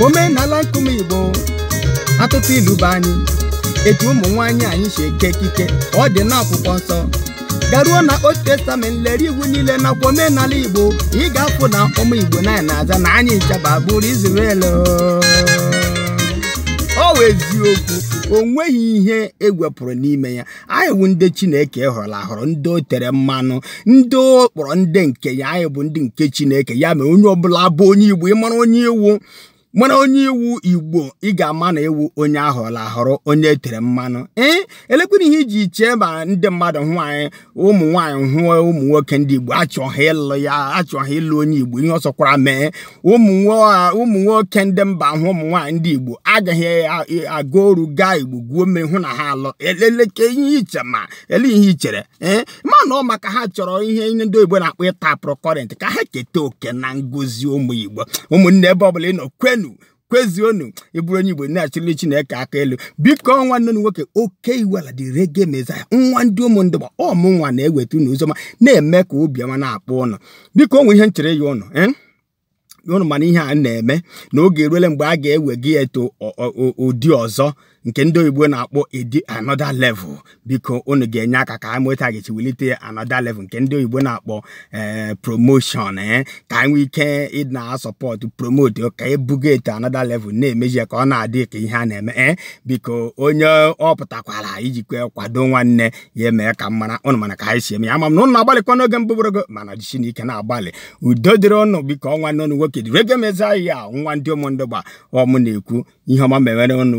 omenala nke ụmụ igbo atụtụ ilu be anyị etu ụmụ nwaanyị anyị si eke ekike ọ dị n'akwụkwọ nsọ garuo na old testament lere iwu niile nakwa omenala igbo ị ga-afụ na ụmụ igbo na anyị na-aza na anyị ncha bụ agbụrụ Israel ọ wụ eziokwu o nweghị ihe e wepụ pụrụ n'ime ya anyị bụ ndị chineke họrọ ahọrọ ndị o tere mmanụ ndị o kpọrọ ndị nke ya anyị bụ ndị nke chineke ya mere onye ọbụla bụ onye igbo ị mara onye ị wụ mara onye ị wụ igbo ị ga-ama na ị wụ onye a họrọ ahọrọ onye e tere mmanụ ee elekwere ihe i ji chee ma ndị mmadụ hụ anyị ụmụ nwaanyị hụ ụmụ nwoke ndị igbo achọ ha ịlụ ya achọ ha ịlụ onye igbo ihe ọ sọkwara mee ụmụ nwoke ndị mba hụ ụmụ nwaanyị ndị igbo aga ha aga oru gaa igbo gwuo mmiri hụ na ha alụ eleleke ihe i che ma elee ihe i chere ee ma na ọ maka ha chọrọ ihe ndị oyibo na-akpọ ịtapụrụ current ka ha keta oke na ngozi ụmụ igbo ụmụnne ebe ọbụla ị nọ kwenu kwezuonu ị bụrụ onye igbo na-achịrị chineke aka elu biko ọ nwanne unu nwoke oke iwela the reggae messiah nwa ndị ụmụndụgba ọ mụ nwa na-eweta unu ozi ọma na-eme ka obi ọma na-akpọ ụnụ biko o nwe ihe m chọrọ ịyọ ụnụ eh? ụnụ ma na ihe a na-eme na oge eruele mgbe a ga-ewega ya to ụdị ọzọ nke ndị oyibo na-akpọ edi another level biko unu ga-enye aka ka anyị nweta ga-echi welite another level nke ndị oyibo na-akpọ eh, promotion eh, ka anyị nwee ike ịdị na-asupport promote ka e buga ya to another level na-emeji ya ka ọ na-adị ka ihe a na-eme ee eh, biko onye ọ pụtakwara ijikwa kwado nwanne ya emee ka m mara ụnụ ma na ka anyị si eme ya ama m na ụnụ na-agbalịkwa n'oge mbụ bụrụgo mana jisinụ ike na-agbalị udo dịrị ụnụ biko ọ nwanne ụnụ nwoke the reggae messiah nwa ndị ụmụndụgba ọ mụ na-ekwu ihe ọma mewere ụnụ